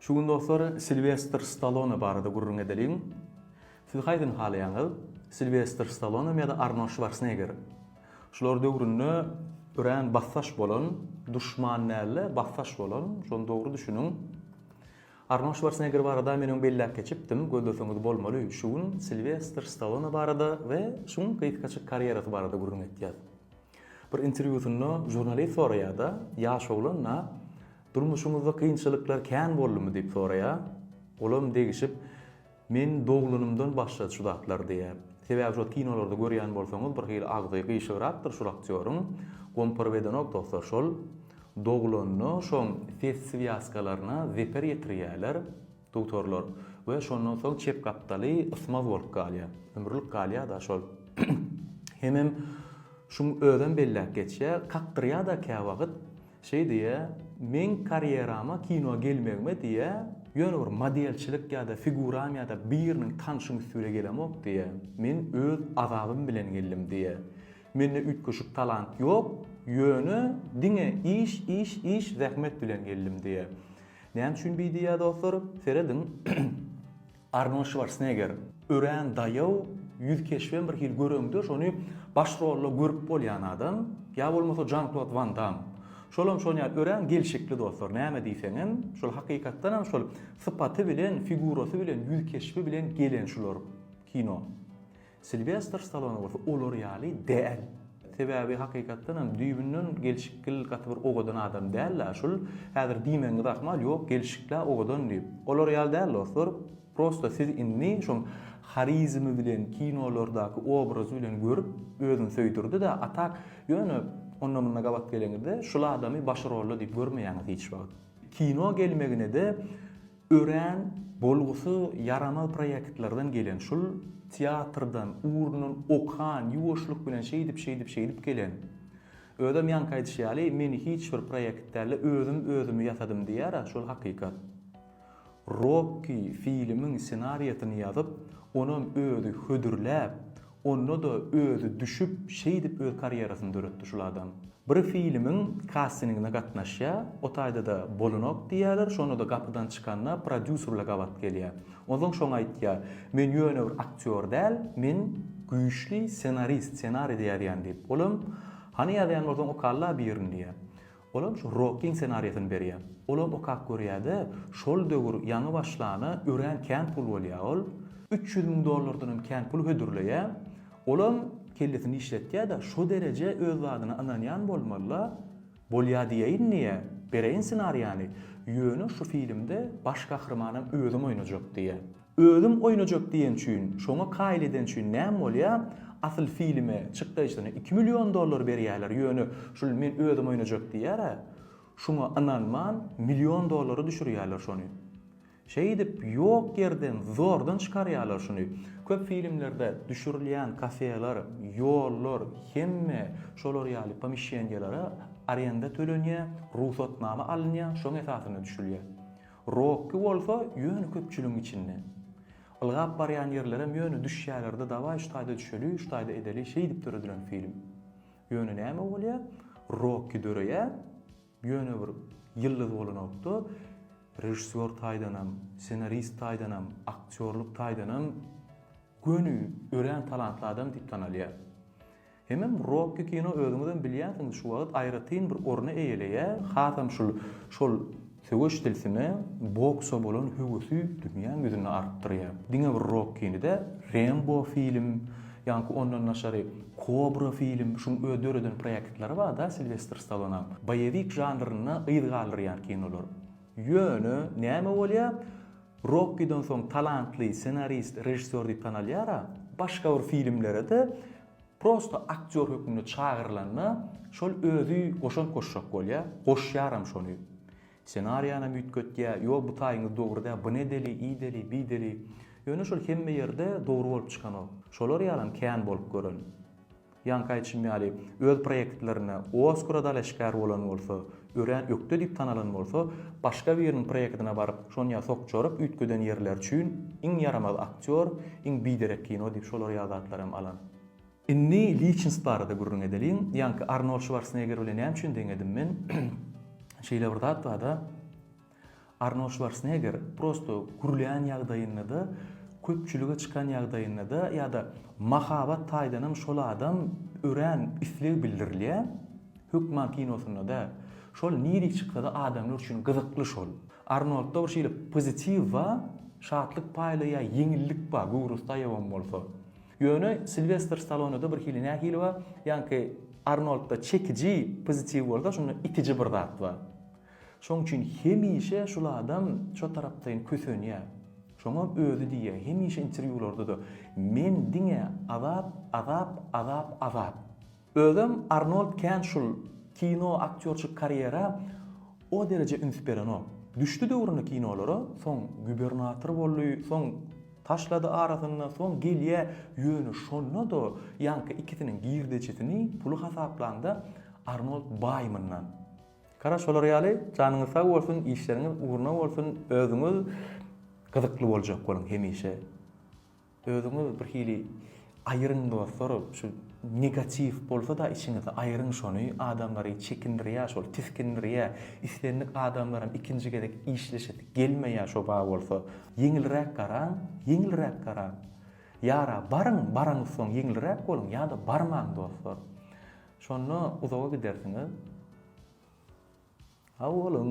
Şu gün dostlar Silwestr Stallone barada gürrüň edeliň. Siz haýsyny halaýaňyz? Silwestr Stallonemy ýa-da Arnold Şwarsneger? Şular döwründe örän basdaş bolan, duşman dälde basdaş bolan, şony dogry düşüniň. Arnold Şwarsneger barada men öň belläp geçipdim, gözleseňiz bolmaly. Şu gün Silwestr Stallone barada we şuň gysgaçyk karýerasy barada gürrüň etýäs. Bir interwýusynda žurnalist soraýar-da, ýaş oglan-a, Durmuşyňyzda kynçylyklar kän boldumy? diýip soraýar. Olam degişip, Men doglanymdan başlady şu zatlar diýýär. Sebäbi şo kinolarda görýän bolsaňyz, bir hili agzy gyşygrapdyr şol aktýoryň. Gomparyp edenok dostlar, şol doglanda şoň ses swýaskalaryna zeper ýetirýärler. Duktorlar, We şondan soň çep gapdaly ysmaz bolup galýar. Ömürlik galýar-da şol. Hemem şuň özem belläp geçýär, kakdyrýar-da käwagt. Şeý diýýär, Meň karýerama kino gelmegime diýýär, ýöne bir modelçilik ýa-da figuram ýa-da biriniň tanşyň üstüne gelemok diýýär. Men öz azabym bilen geldim diýýär. Mende üýtgeşik talant ýok, ýöne diňe iş, iş, iş, zähmet bilen geldim diýýär. Näme üçin bi diýýär dostlar? Serediň, Arnold Şwarsneger örän daýaw, ýüz keşbem bir hili göreňdeş, ony baş rolda görüp bolýan adam, ýa bolmasa Žan-Klod Wan Damm. Şolam şon ýaly örän gelşikli dostlar, näme diýseňem, şol hakykatdanam şol sypaty bilen, figurasy bilen, ýüz keşbi bilen gelen şular kino. Silwestr Stallone bolsa olar ýaly däl. Sebäbi hakykatdan hem düýbünden gelşikgil gaty bir owadan adam dälä şul, häzir diýmegiňiz ahmal, ýok gelşiklä owadan diýip. Olar ýaly däl dostlar, prosta siz indi şoň harizmi bilen kinolardaky obrazy bilen görüp özüni söýdürdidä, a tak ýöne onda munda gabat geleňizde şul adamy başy rolda diýip görmeýäňiz hiç wagt. Kino gelmeginede Örän bolgusy ýaramaz proýektlerden gelen şul teatrdan ugrundan okan ýuwaşlyk bilen şeýdip şeýdip şeýdip gelen. Özem ýaňky aýdyşy ýaly meni hiç bir proýekt dälde özüm özümi ýasadym diýýärä şol hakykat. Rokki filimiň senariýasyny ýazyp onam özi hödürläp Onda-da özi düşüp şeýdip öz karýerasyny döretdi şul adam. Bir filmiň kastingine gatnaşýar, o taýda-da bolanok diýýärler, şonda-da gapydan çykanda prodýuserle gabat gelýär. Onsoň şoňa aýtýar, Men ýöne bir aktýor däl, men güýçli ssenarist, ssenariýde ýazýan diýip. Olam, Hany ýazýan bolsaň okalla birini diýýär. Olam şu Rokyň senariýasyny berýär. Olam okap görýäde, şol döwür ýaňy başlana örän kän pul bolýa ol. Üç ýüz müň dollardanam kän pul hödürleýä. Olam kellesini işletýäde, şo dereje öz zadyna ynanýan bolmalyla, bolýa diýeýin diýä, bereýin senariýany, ýöne şu filmde baş gahrymanam özüm oýnajak diýä. Özüm oýnajak diýen üçin, şoňa kaýyl eden üçin näm bolýa? Asyl filme, çykdaýjysyna iki million dollar berýäler, ýöne şul men özüm oýnajak diýýär-ä, şuňa ynanman, million dollary düşürýäler şony. Şeýdip, ýok ýerden, zordan çykarýalar şuny. Köp filmlerde düşürilýän kafeler, ýollar, hemme şolar ýaly pomişeniýelere arenda tölenýä, rugsatnama alynýa, şoň esasynda düşülýä. Rokki bolsa ýöne köpçüligiň içinde. Ylgap barýan ýerlerem ýöne düşýälerde dawaý şu taýda düşeli şu taýda edeli şeýdip döredilen film. Ýöne näme bolýa Rokki döreýä ýöne bir ýyldyz bolanokda režissýor taýdanam ssenarist taýdanam aktýorlyk taýdanam göni örän talantly adam diýip tanalýa. Hemem Rocky kino özüňizem bilýänsiňiz şu wagt aýratyn bir orny eýeleýär, hasam şul şol söweş tilsime, boksa bolan höwesi dünýäň ýüzünde artdyrýar. Diňe bir Rockini dä, Rembo film, ýanky ondan daşary Kobra film, şuň öz döreden proýektlary bar da Silwestr Stalonaň, boýewik žanrynda yz galdyrýan kinolar. Ýöne näme bolýar, Rockiden soň talantly ssenarist, režissýor diýip tanalýar-a, başga bir filmlere-de Prosta aktýor hökmünde çagyrylanda, şol özi goşant goşjak bolýa, goşýaram şony. Ssenariýanam üýtgetýä, ýo bu taýyňyz dogry däl, byny edeli, ideli, biydeli. Ýöne şol hemme ýerde dogry bolup çykanok. Şolar ýalam kän bolup gören. Ýaňky aýdyşym ýaly, öz proýektlerine Oskara dalaşgär bolan bolsa, Örän ökde diýip tanalan bolsa, başga biriniň proýektine baryp, şonýa sok çorap üýtgeden ýerleri üçin iň ýaramaz aktýor, iň biderek kino diýip şolar ýaly zatlar hem alan. Indi Liçinsk barada gürrüň edeliň. Ýaňky Arnold Şwarsneger bilen näme üçin deňedim men? Şeýle bir zat bar-da. Arnold Şwarsneger prosto gürleýän ýagdaýynda-da, köpçülige çykan ýagdaýynda-da ýa-da mahabat taýdanam şol adam örän isleg bildirilýär. Hökman kinosynda däl. Şol nirek çyksa-da adamlar üçin gyzykly şol. Arnoldda bir şeýle pozitiw bar, şatlyk paýlaýar, ýeňillik bar, göwrestaýawam bolsa. Ýöne Silwestr Stallone-da birhili nähili bar, ýaňky Arnoldda çekiji pozitiw bolsa, şunda itiji bir zat bar. Şoň üçin hemişe şul adam şo tarapdaýyn kösenýär. Şoňa özi diýýär, hemişe interwýularda-da, Men diňe azap, azap, azap, azap. Özem Arnold kän şul kino aktýorçyk karýera o dereje üns berenok. Düşdi döwrüne kinolara, soň gubernator boldy, soň taşlady arasynda, soň gelýär, ýöne şonda-da ýaňky ikisiniň girdejisini, puly hasaplanda Arnold baý mundan. Gara şolar ýaly janyňyz sag bolsun işleriňiz ugruna bolsun özüňiz gyzykly boljak boluň hemişe özüňiz bir hili aýyryň dostlar şu negatiw bolsada içiňizde aýyryň şony adamlary çekindirýä şol tisgindirýä islendik adamlaram ikinji gezek işleşesi gelmeýä şo ba bolsa ýeňilräk garaň ýeňilräk garaň ýara baryň baraňsoň ýeňilräk boluň ýada barmaň dostlar Şonda uzaga gidersiňiz. Sag boluň!